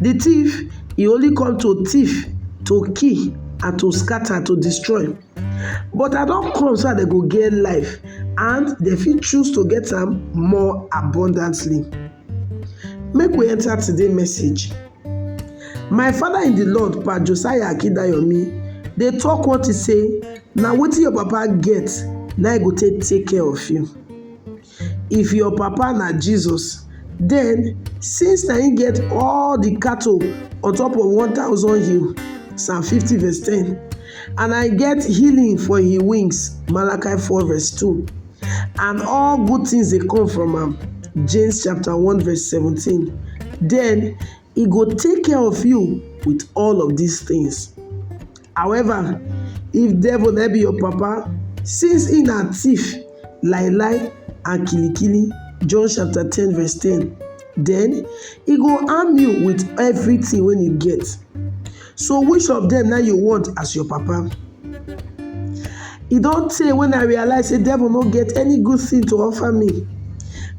Di thief e only come to thief, to kill and to scatter, to destroy. But I don come so dat dem go get life and dem fit choose to get am more abundantly. Make we enter today message. My father in di Lord Pa Josiah Akindayomi dey talk one thing say na wetin your papa get na im go take take care of you. If your papa na Jesus, den since na im get all di cattle on top of one thousand hill, Psalm fifty verse ten, and I get healing for im wings, Malachi four verse two, and all good tins dey come from am, James chapter one verse seventeen, den He go take care of you with all of these things. However, if devil no be your papa, since he na thief, lie lie and kilikili, John chapter 10 verse 10, then he go arm you with everything when you get. So which of them now you want as your papa? E don tey when I realize say devil no get any good thing to offer me.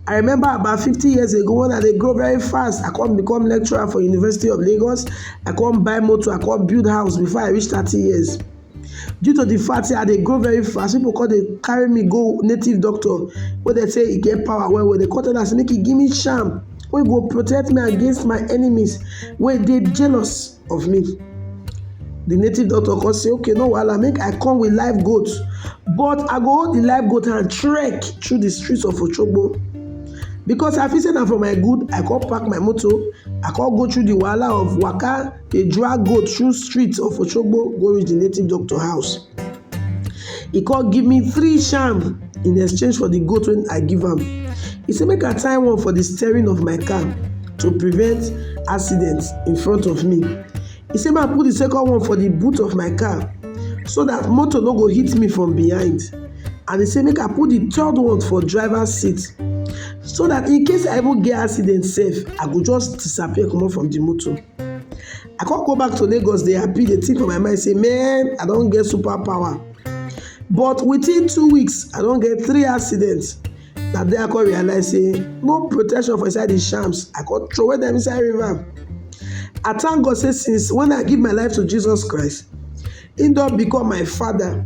I remember about 50 years ago when I dey grow very fast, I come become lecturer for University of Lagos, I come buy motor, I come build house before I reach 30 years. due to the fact say I dey grow very fast, people come dey carry me go native doctor wey dem say e get power well well. Dem come tell am say make e give me charm wey go protect me against my enemies wey dey jealous of me. The native doctor come say okay no wahala make I come with live goat but I go hold the live goat hand trek through the streets of Oshogbo because I feel say na for my good I come park my motor I come go through the wahala of waka dey drag goat through street of Oshogbo go reach the native doctor house. He come give me three sham in exchange for the goat wey I give am. He say make I tie one for the steering of my car to prevent accident in front of me. He say make I put the second one for the boot of my car so that motor no go hit me from behind and he say make I put the third one for driver seat so that in case I even get accident sef, I go just disappear comot from the motor. I come go back to Lagos dey happy dey think for my mind say man I don get super power but within two weeks I don get three accidents na there I come realize say no protection for inside the shams I come throw them inside river I thank God say since when I give my life to Jesus Christ he don become my father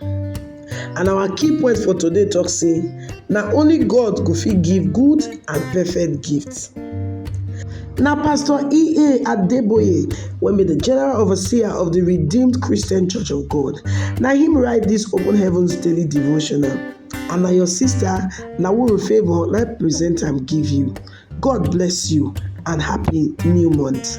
And our key point for today talk say na only God go fit give good and perfect gifts. Na Pastor E.A. Adeboye wey be the General Overseer of the Redeemed Christian Church of God na him write this Open Heavens Daily Devotional and na your sister Nawuru Favour na present am give you. God bless you and happy new month.